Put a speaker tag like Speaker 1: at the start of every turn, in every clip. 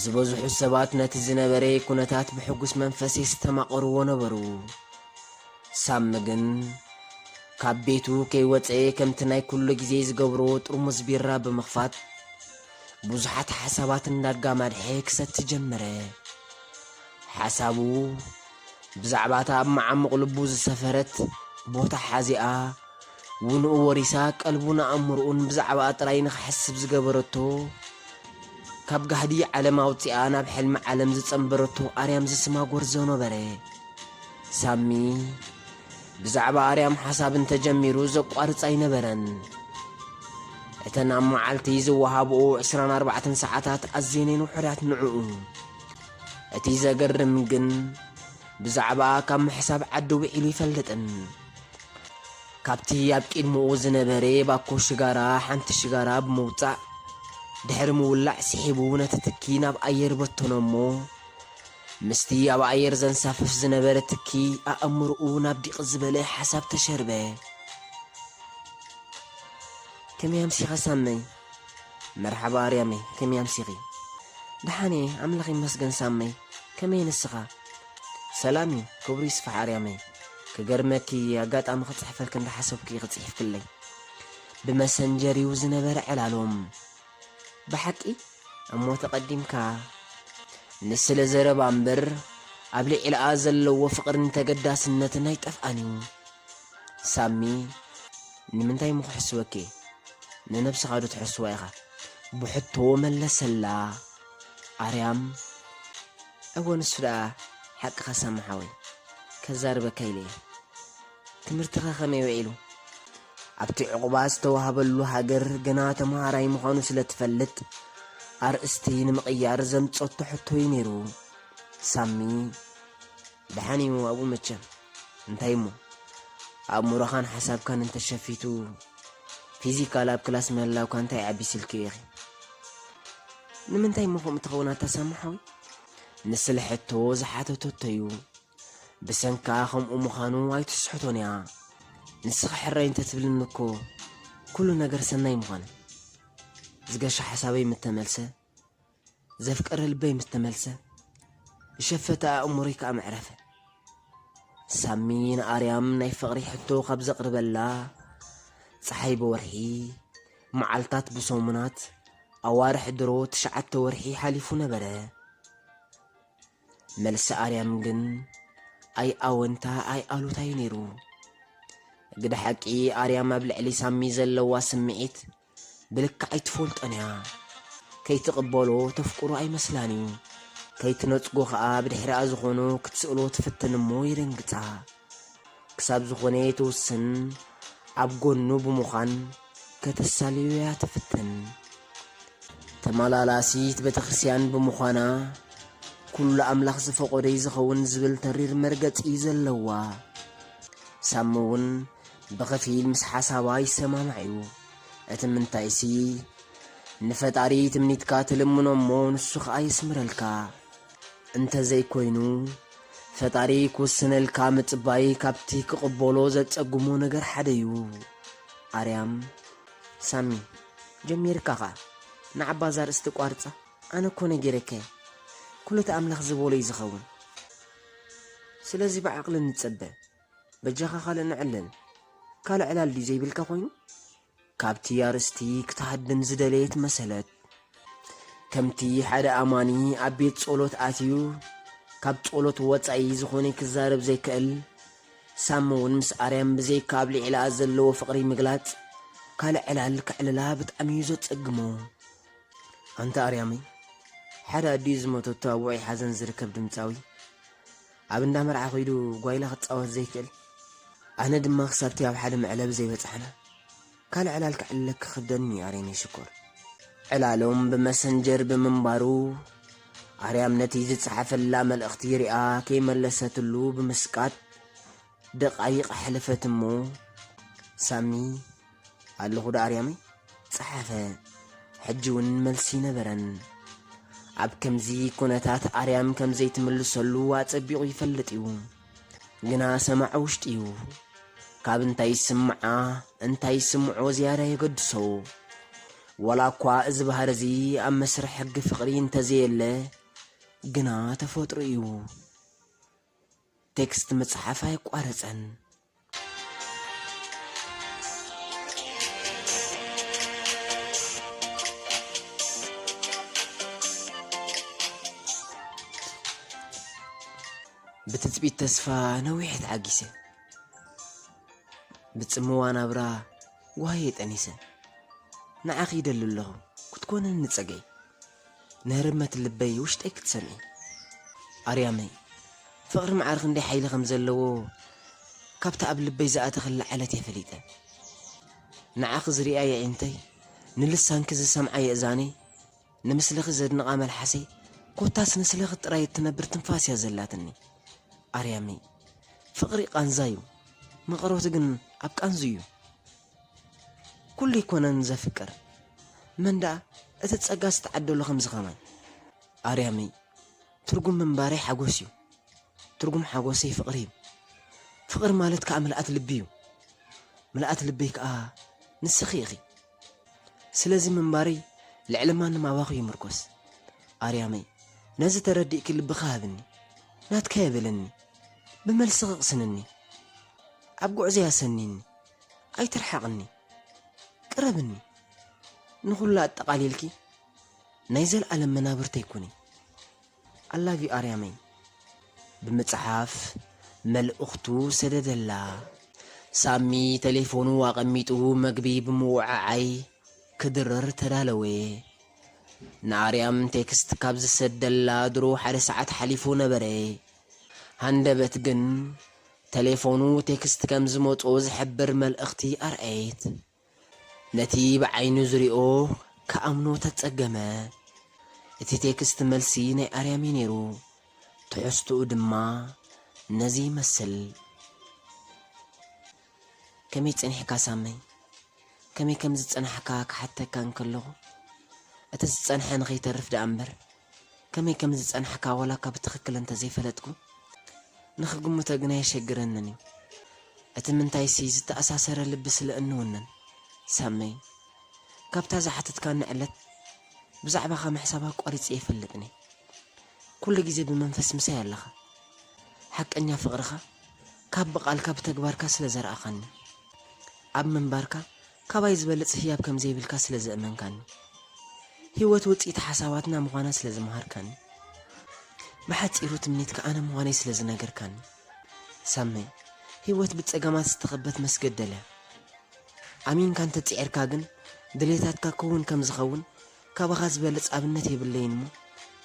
Speaker 1: ዝበዝሑ ሰባት ነቲ ዝነበረ ኩነታት ብሕጉስ መንፈስ የስተማቕርዎ ነበሩ። ሳሚ ግን ካብ ቤቱ ከይወፀ ከምቲ ናይ ኩሉ ግዜ ዝገብሮ ጥርሙዝ ቢራ ብምኽፋት ብዙሓት ሓሳባት እንዳጋማድሐ ክሰቲ ጀመረ። ሓሳቡ ብዛዕባ እታ ኣብ መዓሙቕ ልቡ ዝሰፈረት ቦታ ሓዚኣ ውንኡ ወሪሳ ቀልቡን ኣእምርኡን ብዛዕባኣ ጥራይ ንኽሐስብ ዝገበረቶ ካብ ጋህዲ ዓለም ኣውጺኣ ናብ ሕልሚ ዓለም ዝጸንበረቶ ኣርያም ዝስማ ጎርዞ ነበረ። ሳሚ ብዛዕባ ኣርያም ሓሳብ እንተጀሚሩ ዘቋርጽ ኣይነበረን። እተን ኣብ መዓልቲ ዝወሃብኡ ዕስራን ኣርባዕተን ሰዓታት ኣዝየን ውሑዳት ንዕኡ። እቲ ዘገርም ግን ብዛዕባኣ ካብ ምሕሳብ ዓዲ ውዒሉ ኣይፈልጥን። ካብቲ ኣብ ቂድምኡ ዝነበሬ ባኮ ሽጋራ ሓንቲ ሽጋራ ብምውጻእ ድሕሪ ምውላዕ ሲሒቡ ነቲ ትኪ ናብ ኣየር በተኖ እሞ ምስቲ ኣብ ኣየር ዘንሳፍፍ ዝነበረ ትኪ ኣእምርኡ ናብ ዲቅ ዝበለ ሓሳብ ተሸርበ። ከመይ ኣምሲኻ ሳመይ? መርሓባ ኣርያመይ ከመይ ኣምሲኺ። ደሓን እየ ኣምላኽ ይመስገን ሳመይ ከመይ ንስኻ። ሰላም እዩ ክብሩ ይስፋሕ ኣርያመይ ክገርመኪ እየ ኣጋጣሚ ክጽሕፈልኪ እንዳሓሰብኩ ኢኺ ጽሒፍክለይ ብመሰንጀር እዩ ዝነበረ ዕላሎም ብሓቂ እሞ ተቐዲምካ ንስለ ዘረባ እምበር ኣብ ልዕልኣ ዘለዎ ፍቕርን ተገዳስነትን ኣይጠፍኣን እዩ ሳሚ ንምንታይ እሞ ክሕስወኪ ንነብስኻ ዶ ትሕስዋ ኢኻ ብሕቶ መለሰላ ኣርያም እወ ንሱ ደኣ ሓቅኻ ሳሚ ሓወይ ከዛርበካ ኢለ እየ ትምህርትኻ ከመይ ውዒሉ ኣብቲ ዕቑባ ዝተዋህበሉ ሃገር ገና ተምሃራይ ምዃኑ ስለ ትፈልጥ ኣርእስቲ ንምቕያር ዘምጸቶ ሕቶ'ዩ ነይሩ ሳሚ ደሓን እዩ ኣብኡ መቸም እንታይ እሞ ኣእምሮኻን ሓሳብካን እንተሸፊቱ ፊዚካል ኣብ ክላስ ምህላውካ እንታይ ዓቢ ስልኪ ኢኺ ንምንታይ እሞ ከምኡ ትኸውን ኣታሳምሓዊ ንስለ ሕቶ ዝሓተተቶ እዩ ብሰንካ ከምኡ ምዃኑ ኣይትስሕቶን እያ ንስኻ ሕራይ እንተትብልኒ እኮ ኩሉ ነገር ሰናይ ምዃነ ዝገሻ ሓሳበይ ምተመልሰ ዘፍቀረ ልበይ ምስ ተመልሰ ብሸፈታ ኣእምሮይ ከኣ መዕረፈ ሳሚ ንኣርያም ናይ ፍቕሪ ሕቶ ካብ ዘቕርበላ ፀሓይ ብወርሒ መዓልታት ብሰሙናት ኣዋርሕ ድሮ ትሽዓተ ወርሒ ሓሊፉ ነበረ መልሲ ኣርያም ግን ኣይ ኣወንታ ኣይ ኣሉታይ ነይሩ ግደ ሓቂ ኣርያም ኣብ ልዕሊ ሳሚ ዘለዋ ስምዒት ብልክዕ ኣይትፈልጦን'ያ። ከይትቕበሎ ተፍቅሮ ኣይመስላን'ዩ። ከይትነጽጎ ከኣ ብድሕሪኣ ዝኾኑ ክትስእሎ ትፍትን'ሞ የደንግጻ። ክሳብ ዝኾነ ትውስን ኣብ ጎኑ ብምዃን ከተሳልዮ'ያ ትፍትን። ተመላላሲት ቤተክርስቲያን ብምዃና ኩሉ ኣምላኽ ዝፈቐዶ'ዩ ዝኸውን ዝብል ተሪር መርገጺ'ዩ ዘለዋ። ሳሚ'ውን ብኽፊል ምስ ሓሳባ ይሰማማዕ እዩ። እቲ ምንታይሲ ንፈጣሪ ትምኒትካ ትልምኖ እሞ ንሱ ኸኣ የስምረልካ። እንተዘይኮይኑ ፈጣሪ ክውስነልካ ምጽባይ ካብቲ ክቕበሎ ዘጸግሞ ነገር ሓደ እዩ። ኣርያም ሳሚ ጀሚርካ ኸኣ ንዓባ እዛ ርእስቲ ቋርጻ ኣነ እኮ ነጊረካ እየ ኩሉ እቲ ኣምላኽ ዝበሎ እዩ ዝኸውን ስለዚ ብዓቕሊ ንጸበ። በጃኻ ካልእ ንዕለል ካልእ ዕላል ድዩ ዘይብልካ ኮይኑ ካብቲ ኣርስቲ ክትሃድም ዝደለየት መሰለት ከምቲ ሓደ ኣማኒ ኣብ ቤት ጸሎት ኣትዩ ካብ ጸሎት ወጻኢ ዝኾነ ክዛረብ ዘይክእል ሳም እውን ምስ ኣርያም ብዘይካ ኣብ ልዕላኣ ዘለዎ ፍቕሪ ምግላጽ ካልእ ዕላል ክዕልላ ብጣዕሚ እዩ ዘጸግሞ ኣንታ ኣርያመይ ሓደ ኣዲኡ ዝመተቶ ኣብ ውዑይ ሓዘን ዝርከብ ድምፃዊ ኣብ እንዳ መርዓ ከይዱ ጓይላ ክጻወት ዘይክእል ኣነ ድማ ክሳብቲ ኣብ ሓደ መዕለቢ ዘይበጻሕና ካልእ ዕላል ክዕልለኪ ክብደኒ እዩ ኣርየነይ ሽኮር። ዕላሎም ብመሰንጀር ብምንባሩ ኣርያም ነቲ ዝጸሓፈላ መልእኽቲ ሪኣ ከይመለሰትሉ ብምስቃጥ ደቓይቕ ሐለፈት እሞ ሳሚ ኣለኹ ዶ ኣርያመይ ጸሓፈ። ሕጂውን መልሲ ነበረን። ኣብ ከምዚ ኩነታት ኣርያም ከም ዘይትምልሰሉ ኣጸቢቑ ይፈልጥ እዩ። ግና ሰማዒ ውሽጢ እዩ። ካብ እንታይ ይስምዓ እንታይ ይስምዖ ዝያዳ የገድሶ። ወላ እኳ እዚ ባህሪ እዚ ኣብ መስርሕ ሕጊ ፍቕሪ እንተዘየለ ግና ተፈጥሩ እዩ። ቴክስት ምጽሓፍ ኣየቋረጸን። ብትጽቢት ተስፋ ነዊሐ ተዓጊሰ። ብጽምዋ ናብራ ጓህየ ጠኒሰ። ንዓኺ ይደሊ ኣለኹ ክትኮንኒ ጸገይ። ንህርመት ልበይ ውሽጠይ ክትሰምዒ ኣርያመይ ፍቅሪ ማዓር ክንደይ ሓይሊ ከም ዘለዎ ካብቲ ኣብ ልበይ ዝኣተክላ ዓለት እየ ፈሊጠ ንዓኺ ዝሪኣ የዒንተይ ንልሳንኪ ዝሰምዓ የእዛነይ ንምስልኺ ዘድንቃ መልሓሰይ ኮታስ ንስለኺ ጥራይ እትነብር ትንፋስ እያ ዘላትኒ ኣርያመይ ፍቅሪ ቃንዛ እዩ መቀረቱ ግን ኣብ ቃንዙ እዩ ኩሉ ኣይኮነን ዘፍቅር መን ደኣ እቲ ጸጋ ዝተዓደሎ ከምዚ ከማይ ኣርያምይ ትርጉም ምንባረይ ሓጎስ እዩ ትርጉም ሓጎሰይ ፍቅሪ እዩ ፍቅሪ ማለት ከኣ ምልኣት ልቢ እዩ ምልኣት ልበይ ከኣ ንስኺ ኢኺ ስለዚ ምንባረይ ልዕሊ ማንም ኣባኺ ይምርኮስ ኣርያመይ ነዚ ተረዲእኪ ልብኻ ሃብኒ ናትካ የብልኒ ብመልስኺ ቅስንኒ ኣብ ጉዕዘይ ኣሰኒኒ ኣይትርሓቕኒ ቅረብኒ ንኹሉ ኣጠቓሊልኪ ናይ ዘልኣለም መናብርተይ ኩኒ ኣላቪ ኣርያመይ ብምጽሓፍ መልእኽቱ ሰደደላ። ሳሚ ተሌፎኑ ኣቐሚጡ መግቢ ብምውዕዓይ ክድርር ተዳለወ። ንኣርያም ቴክስት ካብ ዝሰደላ ድሮ ሓደ ሰዓት ሓሊፉ ነበረ። ሃንደበት ግን ተሌፎኑ ቴክስት ከም ዝመጽኦ ዝሕብር መልእኽቲ ኣርኣየት። ነቲ ብዓይኑ ዝሪኦ ክኣምኖ ተጸገመ። እቲ ቴክስት መልሲ ናይ ኣርያም'ዩ ነይሩ። ትሕዝትኡ ድማ ነዚ ይመስል። ከመይ ጸኒሕካ ሳመይ? ከመይ ከም ዝጸናሕካ ክሓተካ እንከለኹ፣ እቲ ዝጸንሐ ንኸይተርፍ ደኣ'ምበር፣ ከመይ ከም ዝጸናሕካ ዋላ'ኳ ብትኽክል እንተ ዘይፈለጥኩ፣ ንኽግምቶ ግና ኣየሸግረንን እዩ። እቲ ምንታይሲ ዝተኣሳሰረ ልቢ ስለ እንውንን። ሳምይ፣ ካብታ ዝሓተትካኒ ዕለት ብዛዕባኻ ምሕሳብ ኣቋሪጸ ኣይፈልጥን እየ። ኩሉ ግዜ ብመንፈስ ምሳይ ኣለኻ። ሓቀኛ ፍቕርኻ ካብ ብቓልካ ብተግባርካ ስለ ዘርኣኻኒ፣ ኣብ ምንባርካ ካባይ ዝበልጽ ህያብ ከም ዘይብልካ ስለ ዘእመንካኒ። ህይወት ውጽኢት ሓሳባትና ምዃና ስለ ዝመሃርካኒ። ብሓጺሩ ትምኒትካ ኣነ ምዃነይ ስለ ዝነገርካኒ። ሳመይ፣ ህይወት ብጸገማት ዝተኸበት መስገደል'ያ። ኣሚንካ እንተ ጽዒርካ ግን ድሌታትካ ክውን ከም ዝኸውን ካባኻ ዝበልጽ ኣብነት የብለይን'ሞ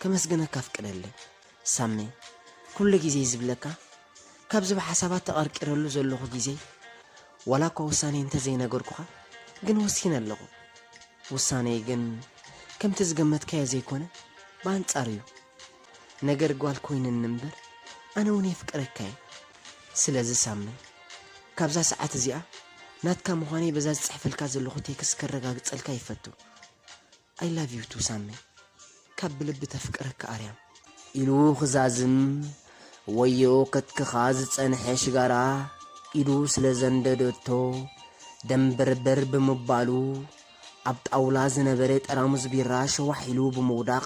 Speaker 1: ከመስግነካ ኣፍቅደለይ። ሳሚ ኩሉ ግዜ ዝብለካ ካብዚ ብሓሳባት ተቀርቂረሉ ዘለኹ ግዜ ዋላ እኳ ውሳኔይ እንተ ዘይነገርኩኻ ግን ወሲነ ኣለኹ ውሳኔይ ግን ከምቲ ዝገመትካዮ ዘይኮነ ብኣንጻሩ እዩ ነገር ጓል ኮይንኒ እምበር ኣነ እውን የፍቅረካ እየ ስለዚ ሳሚ ካብዛ ሰዓት እዚኣ ናትካ ምዃነይ በዛ ዝጽሕፈልካ ዘለኹ ቴክስ ከረጋግጸልካ ይፈቱ። I love you too ሳሚ ካብ ብልቢ ተፍቅረካ ኣርያም። ኢሉ ክዛዝም ወዮ ከትክኻ ዝጸንሐ ሽጋራ ኢዱ ስለ ዘንደደቶ ደንበርበር ብምባሉ ኣብ ጣውላ ዝነበረ ጠራሙዝ ቢራ ሸዋሕ ኢሉ ብምውዳቕ